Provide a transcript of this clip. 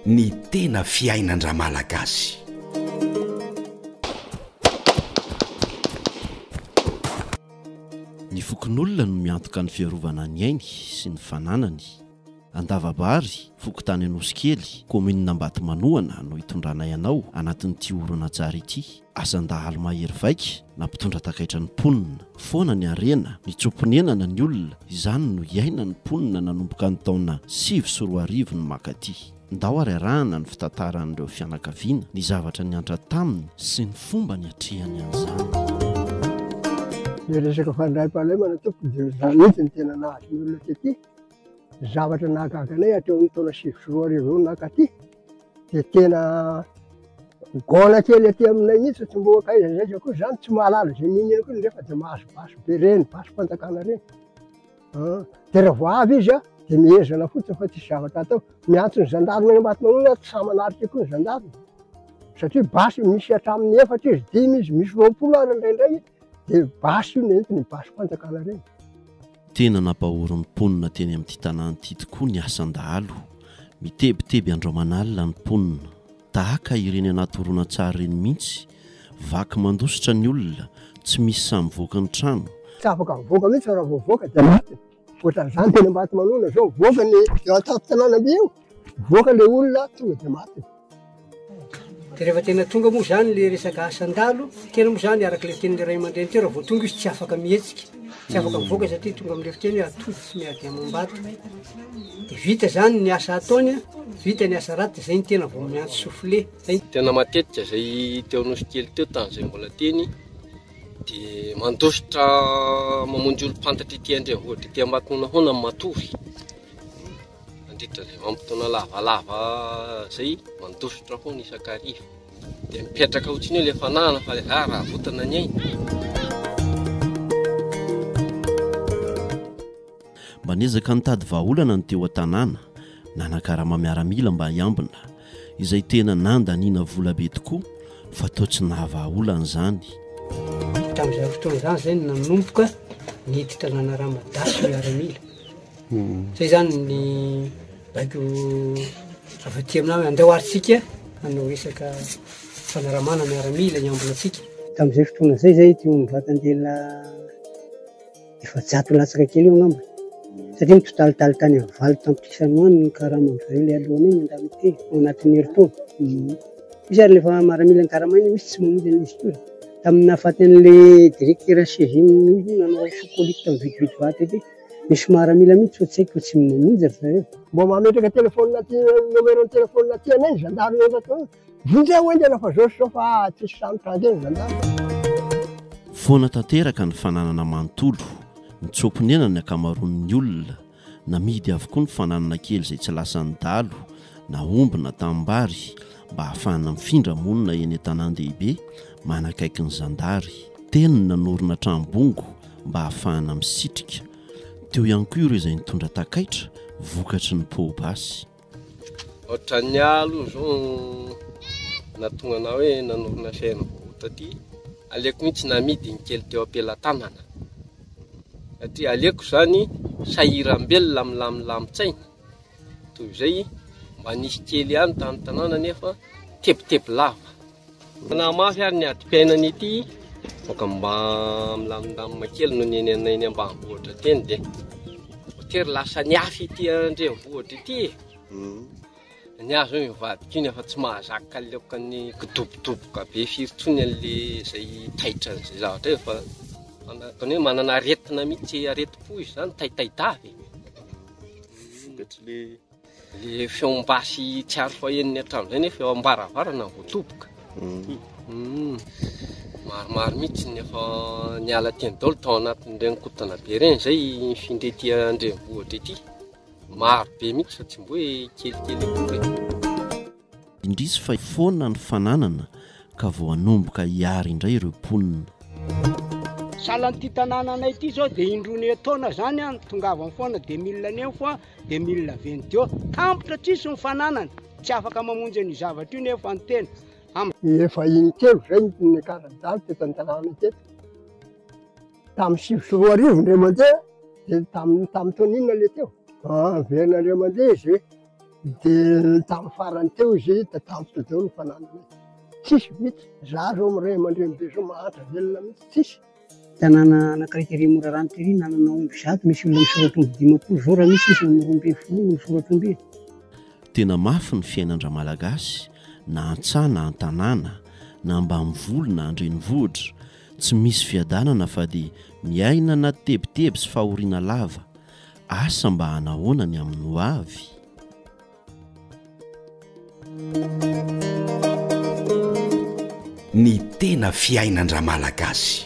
Ny tena fiainan-dRamalagasy. Ny fokonolona no miantoka ny fiarovana ny ainy sy ny fananany. Andavabary, fokontany Anosikely, kaominina Ambatomanohana no itondranay anao anatin'ity horonantsary ity. Asan-dahalo mahery vaika na mpitondra takaitra ny mponina. Foana ny harena, nitsoa-ponenana ny olona, izany no iainan'ny mponina nanomboka ny taona sivy sy roa arivo no mankaty. Ndao ary arahana ny fitantaran'ireo fianakaviana ny zavatra niantra taminy sy ny fomba niatrehany an'izany. Ny resaka fandraim-pahalemana tompoko dia izany mihitsy no tena nahazo ny olona tety. Zavatra nahagaga anay hatreo amin'ny taona sivy sy roa arivo eo nankaty. dia tena gaona kely aty aminay mihitsy tsy mbola akaiza na akaiza koa zany tsy mahalala izay niniana koa nefa dia mahazo basy be reny basim-panjakana reny an dia raha vao avy izy an dia mihezana fotsiny fa tsisy zavatra atao miantso ny zandarina any Ambatomanoina ary tsy sahy manarika koa ny zandarina satria basy misy hatramin'ny efatra izy dimy izy misy roapolo ary indraindray Dia basy io nentina iny basy fanjakana ireny. Tena nampahory ny mponina teny amin'ity tanàna ity tokoa ny asan-dahalo. Mitebiteby andro aman'alina ny mponina. Tahaka ireny anaty horonantsary ireny mihitsy, vaky mandositra ny olona, tsy misy sahy mivoaka ny trano. Tsy afaka mivoaka mihitsy fa raha vao mivoaka dia maty. Ohatran'izany teny Ambatomanona izao, mivoaka ny eo an-tampon-tanànamby eo, mivoaka ilay olona tonga dia maty. Dia rehefa tena tonga moa izany ilay resaka asan-dalo, tena moa izany araka ilay tenin'ilay ray aman-dreny teo, raha vao tonga izy tsy afaka mihetsika, tsy afaka mivoaka satria tonga amin'ilay fiteny hoe atody tsy miady amam-bato. Dia vita izany ny asa ataony, vita ny asa ratsy, dia izay ny tena vao miantso soufflet. Izay. Tena matetika izay teo Anosikely teo tamin'izay mbola teny. dia mandositra mamonjy olom-pantatra ety andrenivohitra ety Ambatonona hono ny matory mandritra izay vanim-potoana lavalava izay mandositra hono isan-kariva dia mipetraka hotsiny eo ilay fanahana fa ilay zara raha avotana ny ainy Mba niezaka nitady vahaolana ny teo an-tanàna, nanakarama miaramila mba hiambina, izay tena nandaniana vola be tokoa fa toa tsy nahavahaolana izany. Tamin'izany fotoana izany izay no nanomboka niditra nanarama daty ny miaramila. Izay izany ny baiko avy aty aminay hoe andao ary isika hanao resaka fanaramana miaramila hiambina antsika. Tamin'izay fotoana izay izay ity ombivatan-dehilahy. efajato latsaka kely eo angamba satria mitotalitaly tany amin'ny valo tapitrisa any ho any ny karama amin'izareo ilay alohany iny indramity ao anatin'ny herintaona. Mhm. Misy ary rehefa maramila ny karama iny misy tsy mamonjy an'ilay histoire. Tamin'ny nahafaty an'ilay directeur HCGM iny nanao sous-colite tamin'ny vitividy vato ity, misy maramila mihitsy fa tsy haiko fa tsy mamonjy ry zareo. Mba mametraka téléphone aty numéro ny téléphone aty anay ny gendarme eto aty. Vindreo hoy ny anao fa zao sy zao fa ah, tsisy samy tandremo zandary. Foana tanteraka ny fananana manontolo, nitsoa-ponenana ny ankamaroan'ny olona, namidy avokoa ny fananana kely izay tsy lasan'ny dahalo na omby na tanimbary mba hahafahana mifindra monina eny an-tanàn-dehibe manakaiky ny zandary. Teo ny nanorina trano-bongo mba hahafahana misitrika. Teo ihany koa ireo izay nitondra takaitra vokatry ny poa-basy. Ohatran'ny ahy aloha izao no nahatonga anah hoe nanorina chaîne vao taty, aleoko mihintsy namidy ny kely teo am-pelatanana, satria aleoko izany sahiram-belona milamindamintsaina toy izay mba nisy kely ihany tany tanàna nefa tebiteby lava. Fanahy mafy ary ny adim-piainana ity Boka mba milamindamina kely no ny anay ny ambanivohitra teny dia voatery lasa ny afy ity andrenivohitra ity e. Hmm. Ny azo hoe mivadika iny efa tsy mahazaka kaleoka ny kidobodoboka be firy tsony an'le izay taitra an'izay zavatra efa tony hoe manana aretina mihitsy aretim-po izany taitay davy. Hmm. Vokatry le Ilay feom-basy tsy ary fahenony hatramin'izay nefa eo am-baravarana vao toboka. Hmm. Maromaro mihitsy ny efa niala teny daholo tao anatin'ireny kotana be ireny izay mifindra ety an-drenivohitra ety. Maro be mihitsy fa tsy mboe kelikely akory. Indrisy fa foana ny fananana ka vao hanomboka hiary indray ireo mponina. Sahala an'ity tanànanay ity izao dia indroany etoana zany an, tongavany foana dia mille any eo foa dia mille avy any deo. Tampotra tsisy ny fananana, tsy afaka mamonjy an'io zavatra io nefa ny tena. Am. Efa in-telo izay no niakarany dago teto an-tanàna teto. Tamin'ny sivy sy roa arivo indray mandeha dia tamin'ny tamin'ny taona inona ilay teo? An, very indray mandeha izy e. Dia tamin'ny farany teo izy dia tampoka izao ny fananany. Tsisy mihitsy. Izaho izao amin'ny ray aman-dreny be izao mahantra velona mihitsy tsisy. Tanàna anankiray tery Morarano tery nanana omby zato misy olona misoratra omby dimampolo izao raha misy izy amin'ny roa ambin'ny folo no misoratra omby e. Tena mafy ny fiainan-dramalagasy na an-tsaha na an-tanàna na ambanivolo na an-drenivohitra, tsy misy fiadanana fa dia miaina anaty tebiteby sy fahoriana lava, Asa mba hanahoana ny amin'ny ho avy? Ny tena fiainan-dRamalagasy.